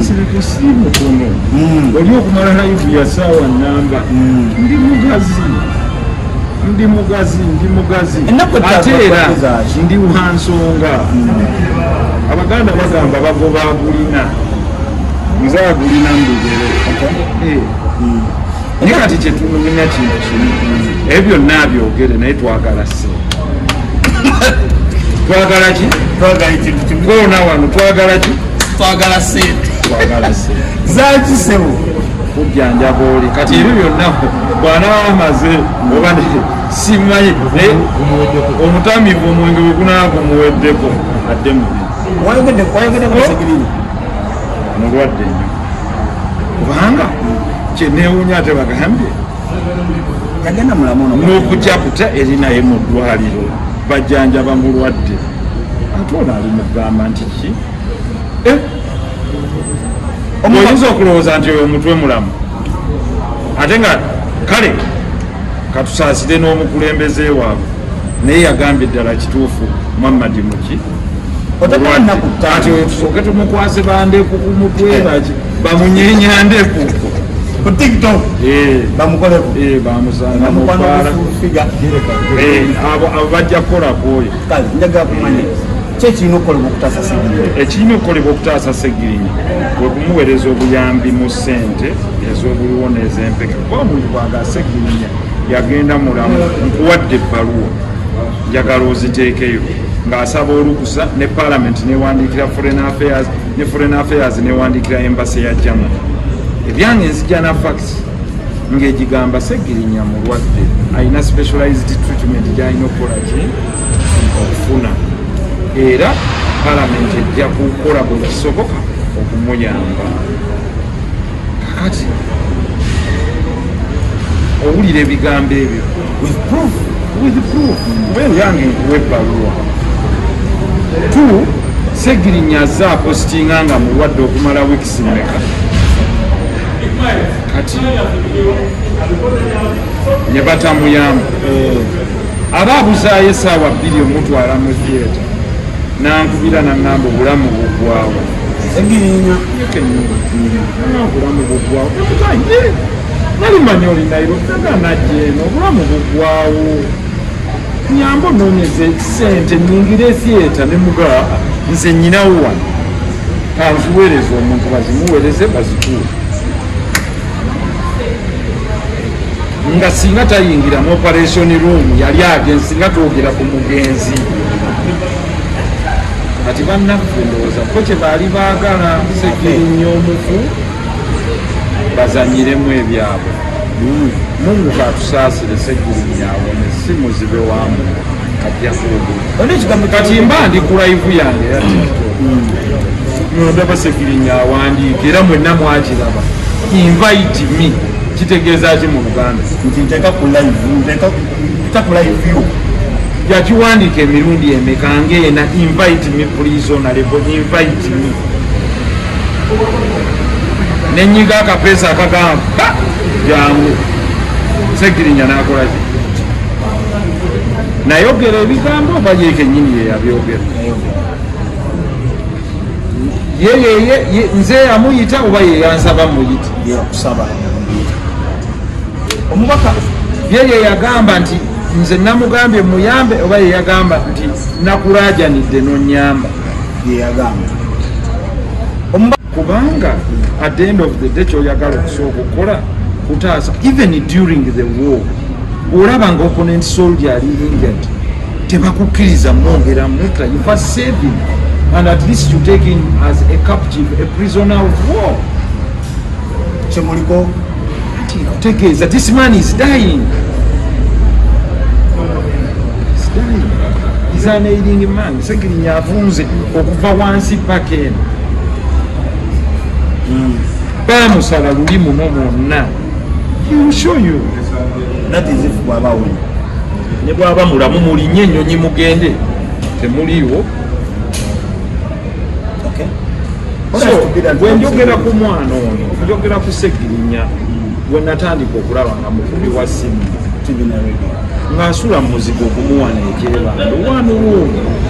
sirikusiimu kuno oli okumala haivu ya saawa namba ndi mugazi ndi mugazi ndi mugazi ate era ndi wansonga abaganda bagamba bagoba agulina nze agulina mbigere eh. naye kati kyetunumina kintu kimu ebyo byonna abyogere naye twagala se twagala ki twagala kintu kimu koona wano twagala ki twagala sente twagala sente zaki sebo kujjanjaba oli kati ebyo byonna bwanaaba amaze oba simanyi naye omutamivu omwenge wegunaaba gumuweddeko adde mubi mulwadde nyo kubanga kyenewunya ate bagambye nokujakuta erinaye mu ddwaliro bajjanjaba mulwadde ate ono ali mugamba nti Eh? oyinza okulowooza nti oyo omutwe mulamu ate nga kale katusaasire n'omukulembeze waabwe naye yagambye ddala kituufu muhammadi muki ati oyo tusooke tumukwase bandeku ku mutwe eh. baki bamunyenya ndeku ku tiktok eh. bamukoleko bamusanga mukwala abo bajja kukola kwoyo kyekirina okukolebwa okutaasa segirinya ekirina okukolebwa okutaasa segirinya kwe kumuweereza obuyambi mu ssente ez'obuliwo n'ezempeke kuba omuntu bwaga segirinya yagenda mulamu nkuwadde ebbaluwa njagala oziteekeyo ng'asaba olukusa ne palamenti newandiikira foreign affairs ne foreign affairs newandiikira embasi ya germany ebyange nzija na facts ng'egigamba segirinya mulwadde alina specialized treatment gyalina okukola ki okufuna era palamenti ejja kukola buli kisoboka okumuyamba kakati owulira ebigambo ebyo yange nkuwa ebbaluwa t segirinya aze apositinga nga mulwadde okumala wiikisi meka kati ne batamuyamba eh. aba abuzaayo esaawa bbiri omutwala mu theatre nankubira naŋamba obulamu bugwawo obulamu bugwawo nali manyi oli nairobiaganajeeno obulamu bugwawo nyamba ononyeza ekisente nyingira etheatre nemugaa nze nyinawo wano kanziwereza omuntu bazimuwereze bazikuula nga singa tayingira mu operation room yali agenzi singa twogera ku mugenzi kati bannaffe ndowooza ko kye baali baagala segirinya omufu bazanyiremu ebyabwe mungu katusaasire segirinya awone si muzibe wamu kati mba ndi kulaivu yange ndaba segirinya awandiika era mwenna mwakiraba invite me kitegeeza ki mu luganda nti nteeka ku live nteeka ku live yo yakiwandiika emirundi emeka ngaena invite me please on level invite me nenyiga akapeesa akagamba jangu segirinya nakolaki nayogera ebigambo oba ye kenyini yeyabyogera yeyeye nze yamuyita oba yeyansaba muyita yeyakusaba omubaka ye yeyagamba nti nze namugambye muyambe oba yeyagamba nti nakurajanidde nonyamba yeyagamba kubanga at the end of the day kyoyagala okusooka okukola kutaasa even during the war olaba nga opponent soldier ali injured tebakukkiriza mwongera mutta you first save him and at least you take him as a captive a prisoner of war kyemuliko kutegeeza this man is dying is an aiding man segirinya avunze okuva wansi paka eno bamusala hmm. luli muno mwonna mushoyo natizifu bwabawuli ne bwaba mulamu mulinye enyonyi mugende temuliiwo wenjogera ku mwana ono njogera ku segirinya wenatandika okulaba nga mukubi wa simu nga asula mu muzigo okumuwana ekyebando wanuwuuno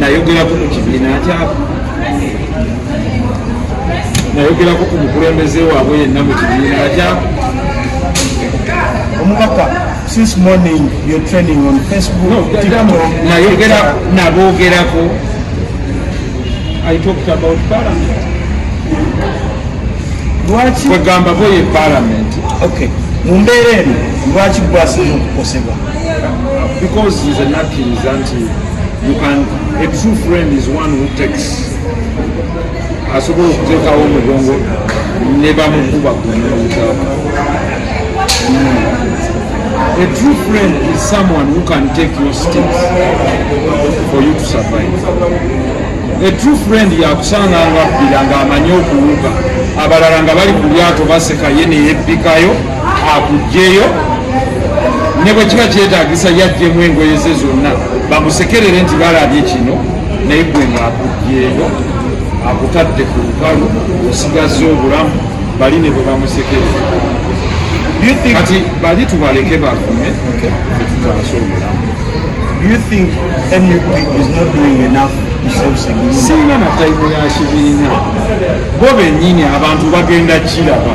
nayogerako mu kibiina kyabo nayogerako ku mukulembeze waabwe yenna mu kibiina kyabo omubaka since morning you're training on facebook nayogera nabogerako i talked about parliament lwaki kwegamba boye parliament okay mu mbeera eno lwaki gwasina okukosebwa because he's a nut in zanti you can a true friend is one who takes asobola okuteekawo omugongo ne bamukuba kunyuta a true friend is someone who can take your steps for you to survive a true friend yakusanga nga abbira ng'amanyi okuwuga abalala nga bali ku lyato baseka ye neyebbikayo akugyeyo ne bwe kiba kyetagisa yajjemu engoye ze zonna bamusekerere nti balabye kino naye gwe ngaakugyeyo akutadde ku lukalu osigazza obulamu bali ne bwe bamusekerere kati bali tubaleke bakume etutaasa obulamu Do you think NUP is not doing enough to save Segini? Singa na taimu ya Shibirina. Bobe nyini abantu bagenda chilaba.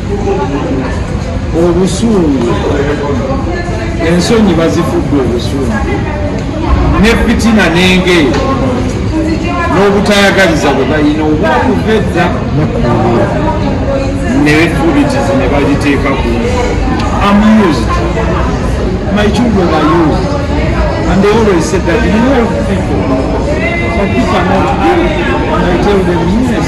obusungu ensonyi bazifudde obusungu ne fitina nengeyo n'obutayagaliza bwe balina obwakuva edda nebefubitizi ne bagiteeka ku amused my children are used and they always said that you help people but people are not good and I tell them yes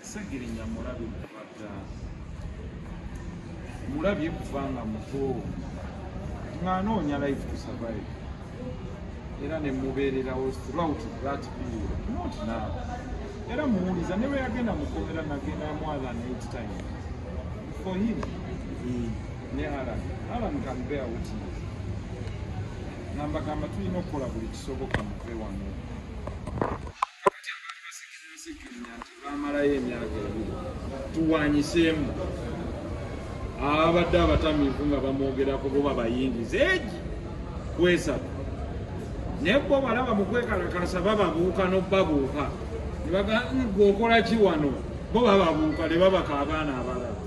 Segirinya mulabi kuvadda mulabye kuva nga muto nga anoonya life to survive era ne mubeererawo throughout that period not now era muwuliza ne bwe yagenda mukomera nagenda more than eight time for him mm. ne alan alan can bear witness nambagamba tulina okukola buli kisoboka muve wano bamalayo emyaka ebiri tuwanyiseemu ababadde abatamiivu nga bamwogerako bo babayingiza egi kwesatu naye bo balaba mukwekalakasa bababuuka nobabuuka nebagagwe okola ki wano bo bababuuka ne babaka abaana abalala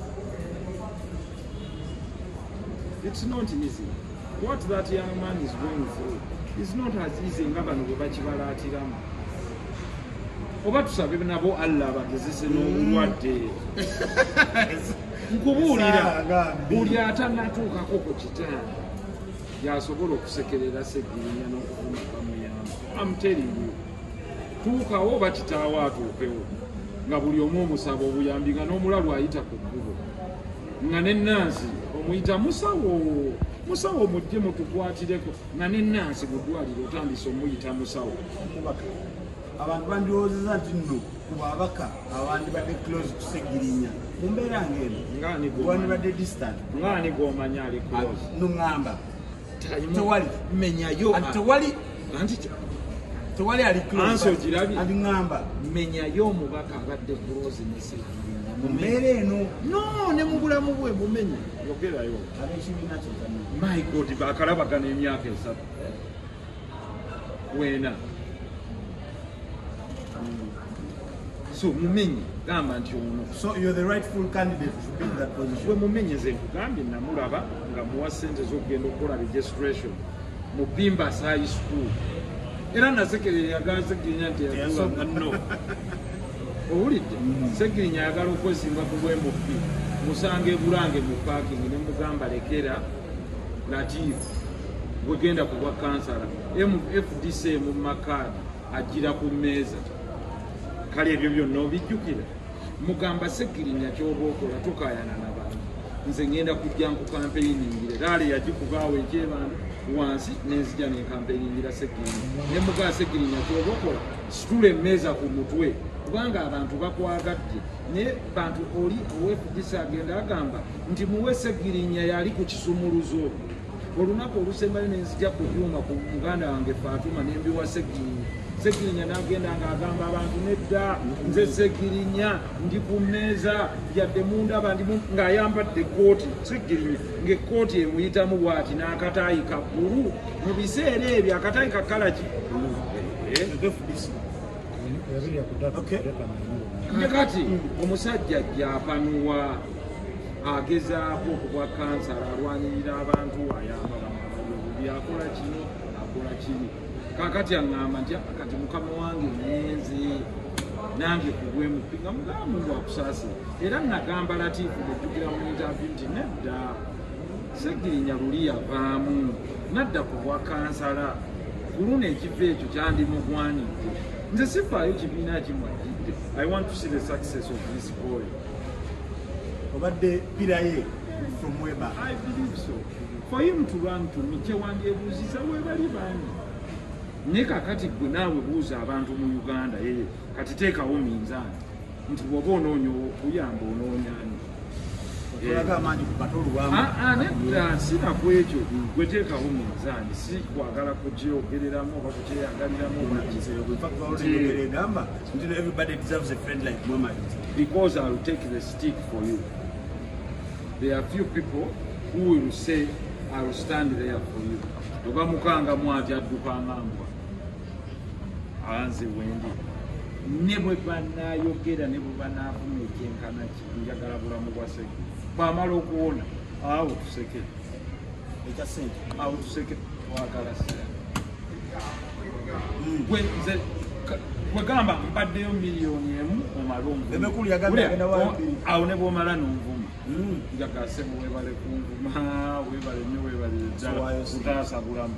it's not easy what that young man is going through is not as easy nga bano bwe bakibalaatiramu oba tusabe nabo allah abagezese n'obulwadde nkubuulira buli atanatuukako ku kitanda yasobola okusekerera segirinya n'okuvuma bamuyamba amuteringu tuukawo oba kitaawo atuukewo nga buli omu omusaba obuyambi nga n'omulalu ayita ku kkubo nga nenansi omuyita musawo musawo mujje mutukwatireko nga ne nansi mu ddwaliro otandise omuyita musawo abantu bandiwoozeza nti nno ku babaka abandibadde close kusegirinya mu mbeera ngaeno wandibadde distant ngaani gomanya ali close ah, nuŋamba tewali menyayo tewali tewali ali close ali ŋamba menyayo omubaka abadde close nesegirinya mu mbeera eno no ne mu bulamu bwe mumenye yogerayo my god bakalabagana emyaka esatu wena so mumenye gamba nti ono we mumenye ze nkugambye namulaba nga muwa sente zokugenda okukola registration mu bimba sayi school era nasekerera yagaze genya nti yakuwa munno owulidde segirinya ayagala okwesimba ku bwemupi musanga ebulange mu pakingi ne mugamba lekera latif gwegenda ku bwa kansala mfdc mu makaadi ajjira ku mmeeza kale ebyo byonna obijjukira mugamba segirinya kyoba okola tukayana nabantu nze ngenda kujja nku kampeyiningire laale yagikubaawo ekyebantu wansi nenzija nenkampeyingira segirinya ne mugaa segirinya kyoba okola situla emmeeza ku mutwe kubanga abantu bakwagadde naye bantu oli owefdc agenda agamba nti muwese girinya yali ku kisumuluzo olunaku olusembayo nenzija ku byuma ku muganda wange fatuma nembiwa segirinya segirinya nagenda ngaagamba abantu nedda nze segirinya ndi ku mmeeza yadde mundaba ndi ng'ayambadde ekkooti segirinya ng'ekkooti emuyitamu bwati n'akataayi kabbulu mu biseera ebyo akatale ka kalaki nje kati omusajja japanuwa agezaako okubwa kansala alwanirira abantu ayamba byakola kino akola kiri kakati aŋŋamba nti ah, kati mukama wange nyenze nange kubwemupi nga mugamba ngu akusaasira era nagamba latiifu bwejjukira mu ntavi nti nedda Ssegirinya luli yavaamu nadda ku bwa kansala ku luno ekifo ekyo kyandimugwanidde nze sifaayo kibiina kimwajjidde i want to see the success of this boy obadde piraye from weba i believe so for him to run to me kyewandyebuuziza webali bani naye kakati gwe naawe buuza abantu mu uganda yeye kati teekawo minzaani nti bwoba onoonya okuyamba onoonyani sina ku ekyo gweteekawo munzaani si kwagala kugyeogereramu oba kugyeyagaliramu because ill take the stick for you there are few people who will say ill stand there for you ogamukanga mwati addukangambwa anze wendi ne bwe banayogera ne bwe banavuma ekyenkana ki njagala bulamu bwa seke bwamala okuwona awo tuseke ekya sente awo tuseke twagala sente hmm. gwe nze wegamba mbaddeyo miliyoni emu omala omvumawo ne bwomala nonvuma hmm. njagala sebe webale kunvuma webale nyo webalire ddala utaasa bulamu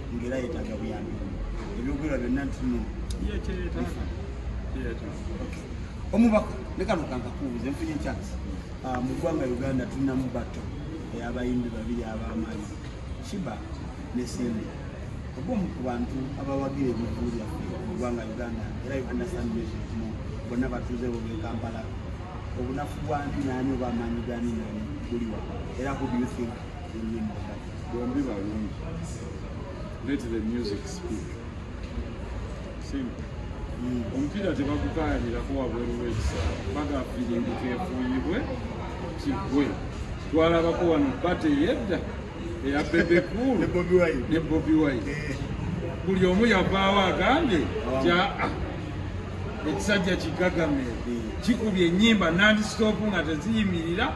ngera yetaga buyambi ebyogera byonna ntino omubaka nekano kankakubuze nfunye ekyasi ah, mu ggwanga uganda tulinamu batto eyabayimbi babiri abamaanyi shiba ne simbi obomu ku bantu abawagira ebivulu byaffe mu ggwanga uganda era uganda sanmesmu bonna batuuze bobe kampala obunafu bwani naani obamaanyi gani nani buliwa era who do you think bombi balungi let the music speak simple mm. omupiira tebagukayanirako wabweru wekisala baga firingi kefuuyibwe kigwe twalabako wano bate yedda eya bebekulu ne bobi wine eh. buli omu yavaawo agambye jaa ah, ekisajja kigagamee kikubye enyimba nandisitopu nga teziyimirira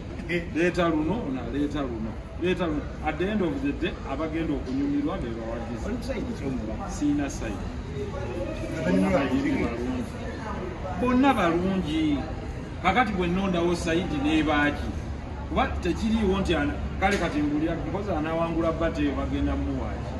leeta luno naleeta luno leeta luno at the end of the day abagenda okunyumirwa bebawagiza siina saidi bonna balungi kakati bwenondawo saidi nebaaki kuba tekiriiwo nti kale kati mbulya mpozi anawangula bateyo bagenda muwaaki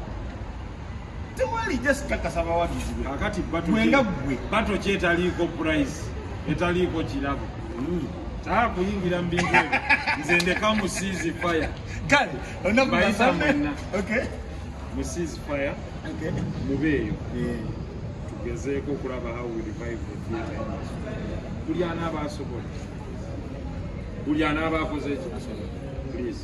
bato kyetaliiko price etaliiko kirabo hmm. taa kuyingira mubintu ebyo nze ndeka mu seas fire bayita mwenna mu seas fire mubeeyo tugezeeko okulaba how we revive the theatre buli anaaba asobola buli anaaba akoze ekyo asobola please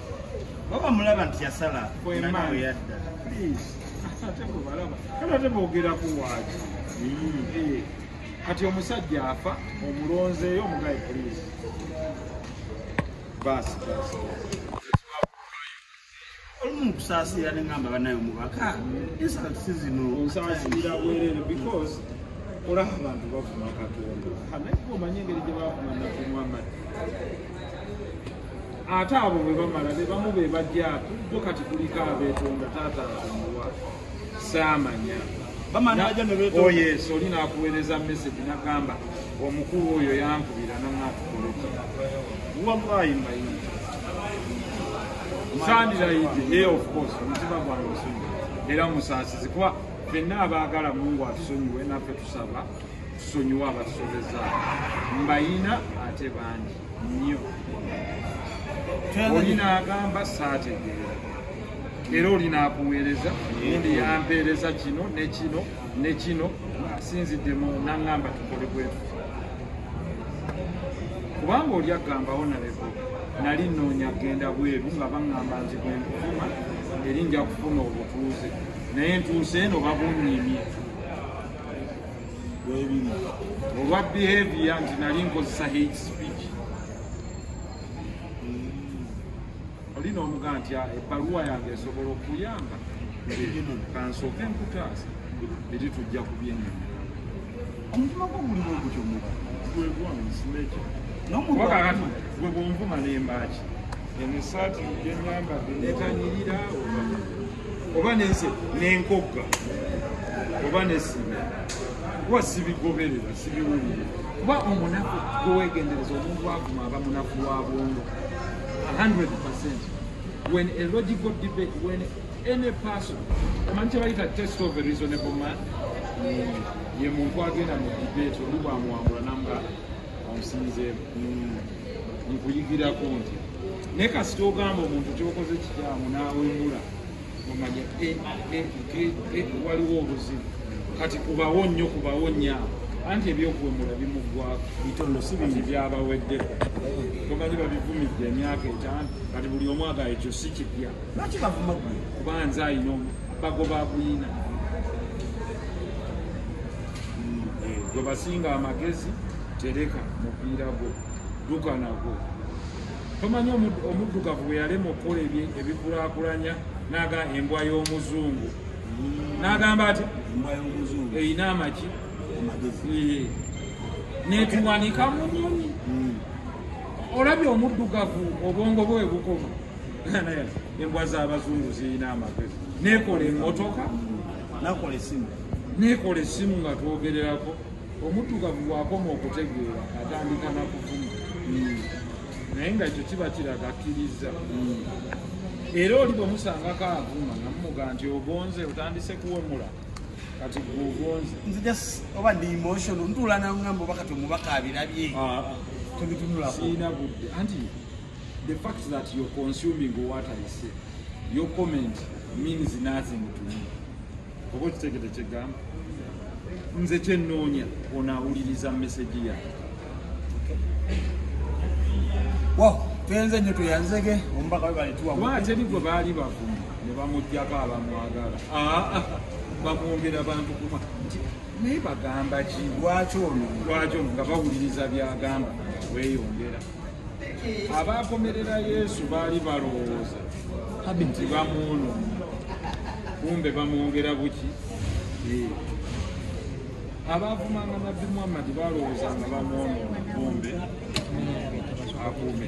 Baba mulaba nti yasala kwema yadda. Please. Ate ko balaba. Kala te bogera ku waji. Mm. Eh. Kati omusajja afa omulonze yo mugaye please. Bas bas. Olumu kusasira ne ngamba banayo mubaka. Esa sizino. Kusasira bwerere because olaba abantu bavuma katonda. Hanaiko manyengeri gye bavuma na kumwamadi. ate abo bwe bamala be bamu be bajja bo kati kuliko abeetonda taata nzanguwa saamanya oh, yes oli nakuweereza message nagamba omukulu oyo yankubira nanatukoleki wallahi maini sandirayidi e of course omutima gwange osonyi era musaasizi kuba fenna abaagala mungu atusonyiwe naffe tusaba sonyiwa abasobeza mbayina ate bangi nnyo oli n'agamba saategeera era oli n'akuweereza ndi yampeereza kino ne kino ne kino asinziddemu n'aŋŋamba tukole bwetu kubanga oli agambawo naleko nali nnoonya genda bweru nga baŋŋamba nti bwe nkufuma eri nja kufuna obutuuze naye ntuuse eno babunnyimye olwa behavior nti nali nkozesa hate speech oli n'omuga nti ah, ebbaluwa yange esobola okuyamba kansooke nkutaasa eri tujja ku byenyama omutima gwo guli bwe gutyo muba gwegwansinekyowakakati gwe bwonvuma nembaaki emisaati gyenyambadde netanyirira oba nenze nenkogga oba nesima kuba sibigoberera sibiwulire kuba omunaku gwewegendereza omuntu avuma aba munaku wa bwongo 100 percent when a logical debate when any person omanyi kyebayita test of a reasonable man ye muntu agenda mu debate olubwamwambula namuga omusinzeemu nkuyigirako nti naye kasita ogamba omuntu kyokoze kikyamu nawemula omanya eh, eh, eh, waliwo obuzibu kati kubawo nnyo kubawo nnyo awo anti ebyokuwemula bimuggwako bitono si bingi byabawedde tomanyi babivumidde emyaka etaano kati buli omu agayo ekyo si kipya lwaki bavuma kubanza ayina bagoba buyina gwe basinga amagezi tereka mupiira gwo dduka nagwo tomanyi omuddugavu bwe yalema okukola ebikulakulanya naga embwa y'omuzungu nagamba ati erina amaki netuwanika mu nyonyi hmm. olabye omuddugavu obwongo bwe bukoma embwa z'abazungu zirina amagezi nekola emotoka nakola esimu nekola esimu nga twogererako omutugavu wakoma okutegeera atandika nakuvuma hmm. naye nga ekyo kiba kiraga akkiriza hmm. era oli bwemusangako avuma namumuga nti ogonze otandise kuwemula kati gwogonze nze just oba ndi emotion ntuula nangamba oba kati omubaka abirabye ah, ah. tebitunulako siina budde anti The fact that you're consuming what I say, your comment means nothing to me. Oba okitegede kyegamba nze kyennoonya onaawuliriza mesegi yange wow twenze nyo tweyanzege omubaka webaletwaateri gwe baali bavumu ne bamugjako abamwagala ah, ah, bamwongera bantu kuma nti naye bagamba ki lwaki ono lwaki ono nga bawuliriza byagamba weyongera abaakomerera yesu baali balowooza nti bamuono kumbe bamwongera buki eh. abaavumanga nabbi muhammadi balowooza nga bamwono kumbe akuume